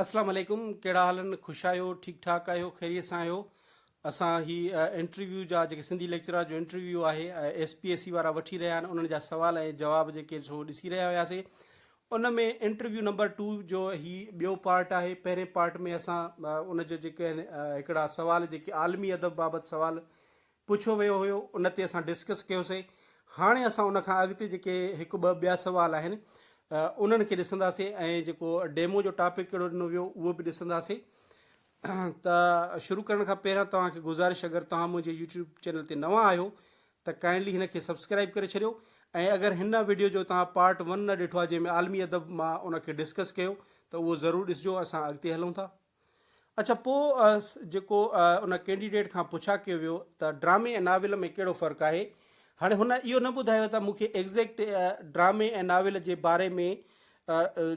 اسلام عليڪم ڪهڙا حال ان خوش آهيو ٺيڪ ٺاڪ آهيو خيريت سان آهيو اسان هي انٽرويو جا جيڪي سنڌي ليڪچرار جو انٽرويو آهي ايس پي ايس سي وارا وٺي رهيا آهن انهن جا سوال ۽ جواب جيڪي سو ڏسي رهيا هياسي ان ۾ انٽرويو نمبر ٽو جو هي ٻيو پارٽ آهي پهرين پارٽ ۾ اسان ان جو جيڪي هڪڙا سوال جيڪي عالمي ادب بابت سوال پڇيو ويو هيو ان تي اسان ڊسڪس ڪيوسي هاڻي اسان ان کان اڳتي جيڪي هڪ ٻه ٻيا سوال آهن انهن کي ڏسنداسي ۽ جيڪو ڊيمو جو ٽاپڪ ڪهڙو ڏنو ويو اهو به ڏسنداسي ته شروع ڪرڻ کان پهريان توهان کي گزارش اگر توهان منهنجي يوٽيوب چينل تي نوان آهيو ته ڪائنڊلي هن کي سبسڪرائب ڪري ڇڏيو ۽ اگر هن ويڊيو جو توهان پارٽ ون نه ڏٺو آهي جنهن ۾ عالمي ادب مان ان کي ڊسڪس ڪيو ته اهو ضرور ڏسجو اسان اڳتي هلون ٿا اڇا پوء جيڪو ان ڪينڊيڊيٽ کان پڇا ڪيو ويو ته ڊرامي ۽ ناول ۾ ڪهڙو فرق آهي؟ هاڻي هن اهو نه ٻڌايو ته مون کي ايگزيڪٽ ڊرامي ۽ ناول جي باري ۾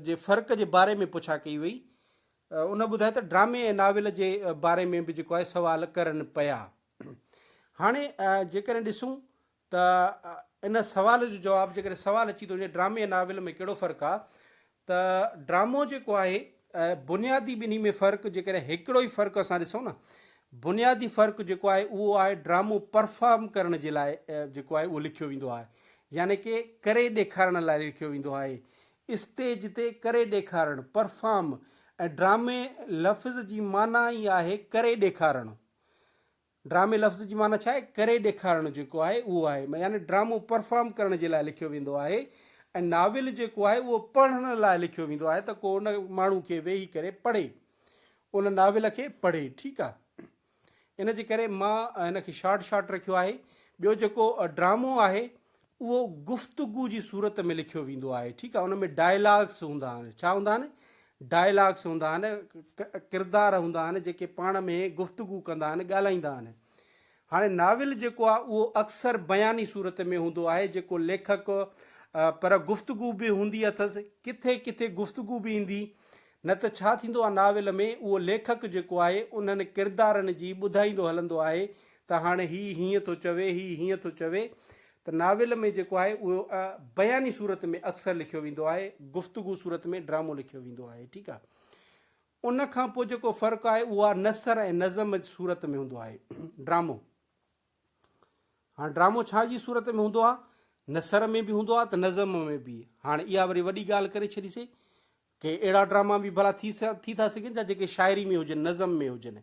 جي فرق جي باري ۾ پڇا ڪئي وئي. ان ٻڌايو ته ڊرامي ۽ ناول جي باري ۾ به جيڪو آهي سوال ڪرن پيا. هاڻي جيڪڏهن ڏسون ته ان سوال جو جواب جيڪڏهن سوال اچي ٿو وڃي ڊرامي ۽ ناول ۾ ڪهڙو فرق آ ته ڊرامو جيڪو آهي بنيادي ٻنهي ۾ فرق جيڪڏهن هڪڙو ئي فرق اسان ڏسون نه بنيادي فرق جيڪو آهي اهو آهي ڊرامو پرفارم ڪرڻ جي لاء جيڪو آهي اهو لکيو ويندو آهي يعني ڪي ڪري ڏيکارڻ لاء لکيو ويندو آهي اسٽيج تي ڪري ڏيکارڻ پرفارم ۽ ڊرامي لفظ جي معنيٰ ئي آهي ڪري ڏيکارڻ ڊرامي لفظ جي معنيٰ ڇا آهي؟ ڪري ڏيکارڻ جيڪو آهي اهو آهي. يعني ڊرامو پرفارم ڪرڻ جي لاء لکيو ويندو آهي ۽ ناول جيڪو آهي اهو پڙهڻ لاء لکيو ويندو آهي ته ڪو ان ماڻهو کي ويهي ڪري پڙهي. ان ناول کي پڙهي. ٺيڪ آهي. ان جي ڪري مان ان کي شارٽ شارٽ رکيو آهي. ٻيو جيڪو ڊرامو آهي اهو گفتگو جي صورت ۾ لکيو ويندو آهي ٺيڪ آهي ان ۾ ڊائلاگس هوندا آهن ڇا هوندا آهن ڊائلاگس هوندا آهن ڪردار هوندا آهن جيڪي پاڻ ۾ گفتگو ڪندا آهن ڳالهائيندا آهن هاڻي ناول جيڪو آهي اهو اڪثر بياني صورت ۾ هوندو آهي جيڪو ليکڪ پر گفتگو به هوندي اٿس ڪٿي ڪٿي گفتگو به ايندي نه ته ڇا ٿيندو آهي ناول ۾ اهو ليکڪ جيڪو آهي انهن ڪردارن جي ٻڌائيندو هلندو آهي ته هاڻي هي هيئن ٿو چوي، هي هيئن ٿو چوي ته ناول ۾ جيڪو آهي اهو بياني صورت ۾ اڪثر لکيو ويندو آهي، گفتگو صورت ۾ ڊرامو لکيو ويندو آهي، ٺيڪ آهي. ان کان پوء جيڪو فرق آهي اهو آهي نثر ۽ نظم جي صورت ۾ هوندو آهي ڊرامو. هاڻ ڊرامو ڇا جي صورت ۾ هوندو آهي؟ نثر ۾ به هوندو آهي ته نظم ۾ به. هاڻ اها وري وڏي ڳالهه ڪري ڇڏيسي. ڪي اهڙا ڊراما به ڀلا ٿي ٿي ٿا سگهن ڇا جيڪي شاعري ۾ هجن، نظم ۾ هجن؟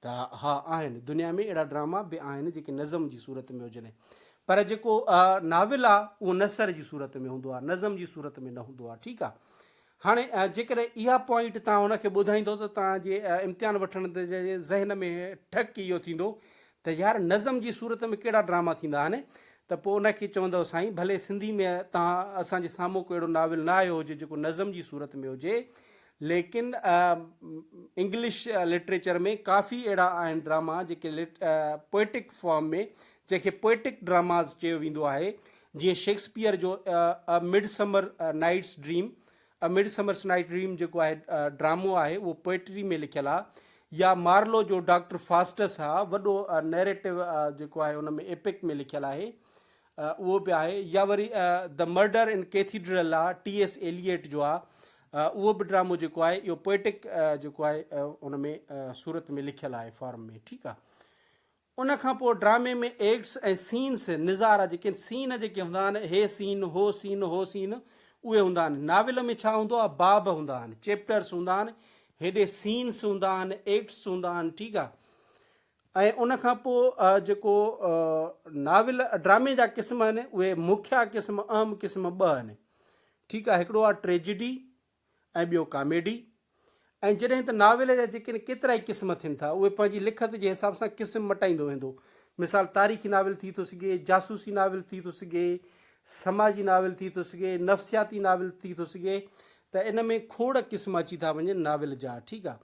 ته ها آهن، دنيا ۾ اهڙا ڊراما به آهن جيڪي نظم جي صورت ۾ هجن. پر جيڪو ناول آ اهو نثر جي صورت ۾ هوندو آ، نظم جي صورت ۾ نه هوندو آ، ٺيڪ آ. هاڻي جيڪڏهن اها پوائنٽ توهان ان کي ٻڌائيندو ته توهان جي امتحان وٺندڙ جي ذهن ۾ ٺڪ اهو ٿيندو ته يار نظم جي صورت ۾ ڪهڙا ڊراما ٿيندا آهن ته پوء ان کي چوندؤ سائين ڀلي سنڌي ۾ تان اسان جي سامهون ڪو اهڙو ناول نه آيو هجي جيڪو نظم جي صورت ۾ هجي ليڪن انگلش لٽريچر ۾ ڪافي اهڙا آهن ڊراما جيڪي پوئٽڪ فارم ۾ جنهن کي پوئٽڪ ڊراماز چيو ويندو آهي جيئن شيڪسپيئر جو Midsummer Night's Dream A Midsummer's Night Dream جيڪو آهي ڊرامو آهي اهو پوئٽري ۾ لکيل آهي يا مارلو جو ڊاڪٽر فاسٽس آهي وڏو نيريٽو جيڪو آهي ان ۾ ايپڪ ۾ لکيل آهي اهو به آهي يا وري The Murder in Cathedral آهي ٽي ايس ايليئٽ جو آهي اهو به ڊرامو جيڪو آهي اهو پوئٽڪ جيڪو آهي ان ۾ صورت ۾ لکيل آهي فارم ۾ ٺيڪ آهي ان کان پوء ڊرامي ۾ ايڪٽس ۽ سينس، نظارا، جيڪي سين جيڪي هوندا آهن، هي سين، هو سين، هو سين، اهي هوندا آهن. ناول ۾ ڇا هوندو آهي، باب هوندا آهن، چيپٽرس هوندا آهن، هيڏي سينس هوندا آهن، ايڪٽس هوندا آهن، ٺيڪ آهي. ۽ ان کان پوء جيڪو ناول ڊرامي جا قسم آهن، اهي مکيه قسم، اهم قسم ٻه آهن، ٺيڪ آهي، هڪڙو آهي ٽريجڊي، ۽ ٻيو ڪاميڊي ۽ جڏهن ته ناول جا جيڪڏهن ڪيترائي قسم ٿين ٿا اهي پنهنجي لکت جي حساب سان قسم مٽائيندو ويندو مثال تاريخي ناول ٿي ٿو سگهي جاسوسي ناول ٿي ٿو سگهي سماجي ناول ٿي ٿو سگهي نفسياتي ناول ٿي ٿو سگهي ته ان ۾ کوڙ قسم اچي ٿا وڃن ناول جا ٺيڪ آ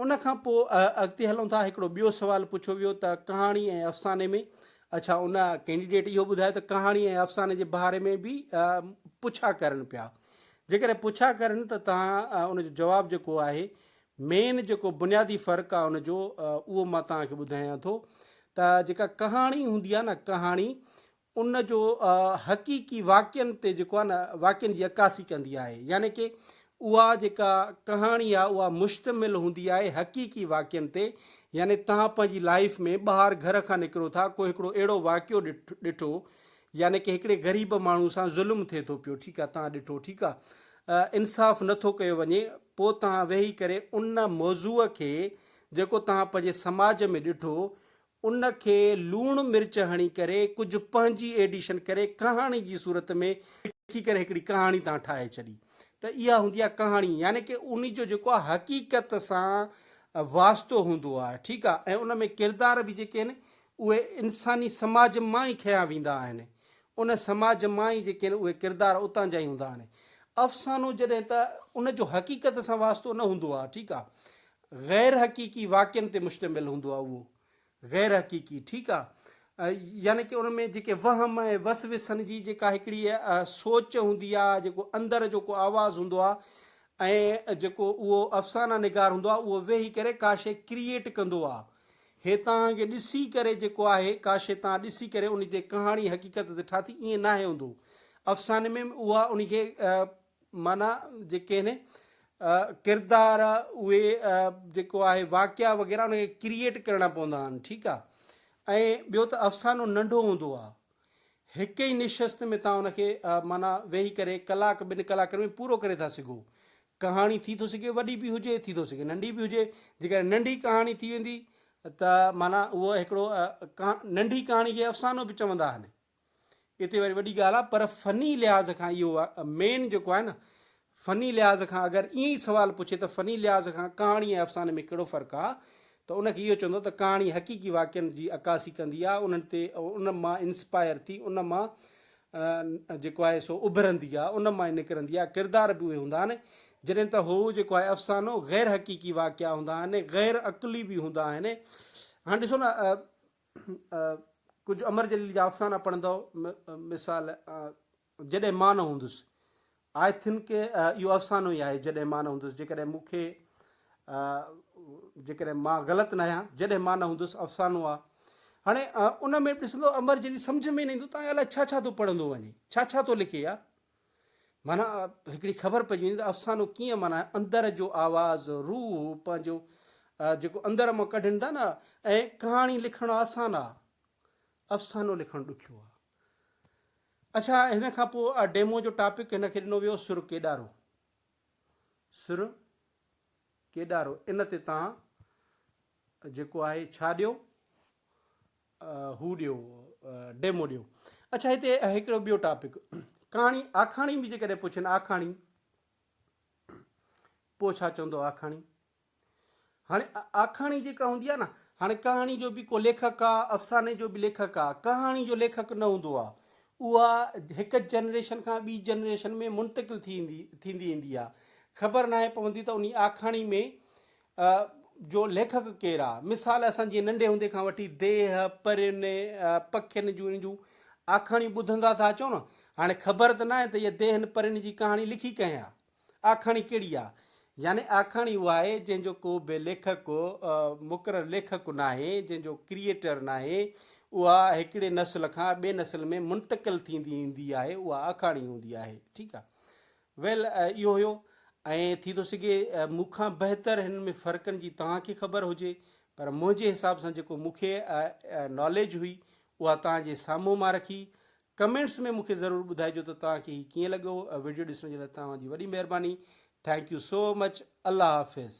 ان کان پوء اڳتي هلون ٿا هڪڙو ٻيو سوال پڇيو ويو ته ڪهاڻي ۽ افساني ۾ اڇا ان ڪينڊيڊيٽ اهو ٻڌايو ته ڪهاڻي ۽ افساني جي باري ۾ به پڇا ڪرن پيا جيڪڏهن پڇا ڪرن ته تهان ان جو جواب جيڪو آهي مين جيڪو بنيادي فرق آهي ان جو اهو مان تهان کي ٻڌايان ٿو ته جيڪا ڪهاڻي هوندي آهي نه ڪهاڻي ان جو حقيقي واقعن تي جيڪو آهي نه واقعن جي عڪاسي ڪندي آهي يعني ڪي اها جيڪا ڪهاڻي آهي اها مشتمل هوندي آهي حقيقي واقعن تي يعني توهان پنهنجي لائيف ۾ ٻاهر گهر کان نڪرو ٿا ڪو هڪڙو اهڙو واقعو ڏٺو يعني ڪي هڪڙي غريب ماڻهو سان ظلم ٿي ٿو پيو ٺيڪ آهي توهان ڏٺو ٺيڪ آهي انصاف نه ٿو ڪيو وڃي پوء توهان ويهي ڪري ان موضوع کي جيڪو توهان پنهنجي سماج ۾ ڏٺو ان کي لوڻ مرچ هڻي ڪري ڪجهه پنهنجي ايڊيشن ڪري ڪهاڻي جي صورت ۾ لکي ڪري هڪڙي ڪهاڻي تان ٺاهي ڇڏي ته اها هوندي آهي ڪهاڻي يعني ڪه ان جو جيڪو آهي حقيقت سان واسطو هوندو آهي ٺيڪ آهي ۽ ان ۾ ڪردار به جيڪي آهن اهي انساني سماج مان ئي کنيا ويندا آهن ان سماج مان ئي جيڪي آهن اهي ڪردار اتان جا ئي هوندا آهن افسانو جڏهن ته ان جو حقيقت سان واسطو نه هوندو آهي ٺيڪ آهي غير حقيقي واقعن تي مشتمل هوندو آهي اهو غير حقيقي ٺيڪ آهي يعني ڪي ان ۾ جيڪي وهم ۽ وسوسن جي جيڪا هڪڙي سوچ هوندي آهي جيڪو اندر جو ڪو آواز هوندو آهي ۽ جيڪو اهو افسانه نگار هوندو آهي اهو ويهي ڪري ڪا شي ڪريئيٽ ڪندو آهي هي توهان کي ڏسي ڪري جيڪو آهي ڪا شي توهان ڏسي ڪري ان تي ڪهاڻي حقيقت تي ٺاٿي ائين ناهي هوندو افساني ۾ اها ان کي معنيٰ جيڪي آهن ڪردار اهي جيڪو آهي واقعا وغيره ان کي ڪريئيٽ ڪرڻا پوندا آهن ٺيڪ آهي ۽ ٻيو ته افسانو ننڍو هوندو آهي هڪ ئي نشست ۾ تان ان کي معنيٰ ويهي ڪري ڪلاڪ ٻن ڪلاڪن ۾ پورو ڪري ٿا سگهو ڪهاڻي ٿي ٿو سگهي وڏي به هجي ٿي ٿو سگهي ننڍي به هجي جيڪڏهن ننڍي ڪهاڻي ٿي ويندي ته معنيٰ اهو هڪڙو ننڍي ڪهاڻي کي افسانو به چوندا آهن اتي وري وڏي ڳالهه آهي پر فني لحاظ کان اهو مين جيڪو آهي نه فني لحاظ کان اگر ائين ئي سوال پڇي ته فني لحاظ کان ڪهاڻي ۽ افساني ۾ ڪهڙو فرق آهي ته ان کي اهو چوندو ته ڪهاڻي حقيقي واقعن جي عڪاسي ڪندي آهي انهن تي ان مان انسپائر ٿي ان مان جيڪو آهي سو اڀرندي آهي ان مان نڪرندي آهي ڪردار به اهي هوندا آهن جڏهن ته هو جيڪو آهي افسانو غير حقيقي واقعا هوندا آهن غير عقلي به هوندا آهن هاڻي ڏسو نه ڪجهه امر جليل جا افسانا پڙهندؤ، مثال، جڏهن مان نه هوندس، آء ٿن ڪي اهو افسانو ئي آهي، جڏهن مان نه هوندس، جيڪڏهن مون کي جيڪڏهن مان غلط ناهيان، جڏهن مان نه هوندس افسانو آ. هاڻي ان ۾ به ڏسندؤ امر جليل سمجهه ۾ نه ايندو ته آء الاء ڇا ڇا ٿو پڙهندو وڃي، ڇا ڇا ٿو لکي يار. معنيٰ هڪڙي خبر پئجي وڃي ته افسانو ڪيئن معنيٰ اندر جو آواز روح پنهنجو جيڪو اندر مان ڪڍين ٿا نه ۽ ڪهاڻي لکڻ آسان آ افسانو لکڻ ڏکيو آ اڇا هن کان پوء ڊيمو جو ٽاپڪ هن کي ڏنو ويو سر ڪيڏارو سر ڪيڏارو ان تي تان جيڪو آهي ڇا ڏيو هو ڏيو ڊيمو ڏيو. اڇا هتي هڪڙو ٻيو ٽاپڪ ڪهاڻي آکاڻي به جيڪڏهن پڇن آکاڻي پوء ڇا چوندو آکاڻي هاڻي آکاڻي جيڪا هوندي آ نه هاڻي ڪهاڻي جو به ڪو ليکڪ آ افساني جو به ليکڪ آ ڪهاڻي جو ليکڪ نه هوندو آ اها هڪ جنريشن کان ٻي جنريشن ۾ منتقل ٿيندي ٿيندي ايندي آ خبر ناهي پوندي ته انهي آکاڻي ۾ ء جو ليکڪ ڪير آ؟ مثال اسان جيئن ننڍي هوندي کان وٺي ديهه، پرين، پکين جون ان جون آکاڻيون ٻڌندا ٿا اچون نه، هاڻي خبر ته ناهي ته اهي ديهن پرين جي ڪهاڻي لکي ڪنهن آ؟ آکاڻي ڪهڙي آ؟ يعني آکاڻي اها آهي جنهن جو ڪو به ليکڪ، مقرر ليکڪ، ناهي، جنهن جو ڪريئيٽر ناهي، اها هڪڙي نسل کان ٻي نسل ۾ منتقل ٿيندي ايندي آهي، اها آکاڻي هوندي آهي، ٺيڪ آ. ويل اهو هيو ۽ ٿي ٿو سگهي مون کان بهتر هن ۾ فرقن جي توهان کي خبر هجي پر منهنجي حساب سان جيڪو مون کي ناليج هئي اها توهان جي سامهون مان رکي ڪمينٽس ۾ مون کي ضرور ٻڌائجو ته توهان کي هي ڪيئن لڳو ويڊيو ڏسڻ جي لاء توهان جي وڏي مهرباني ٿينڪ يو سو مچ الله حافظ.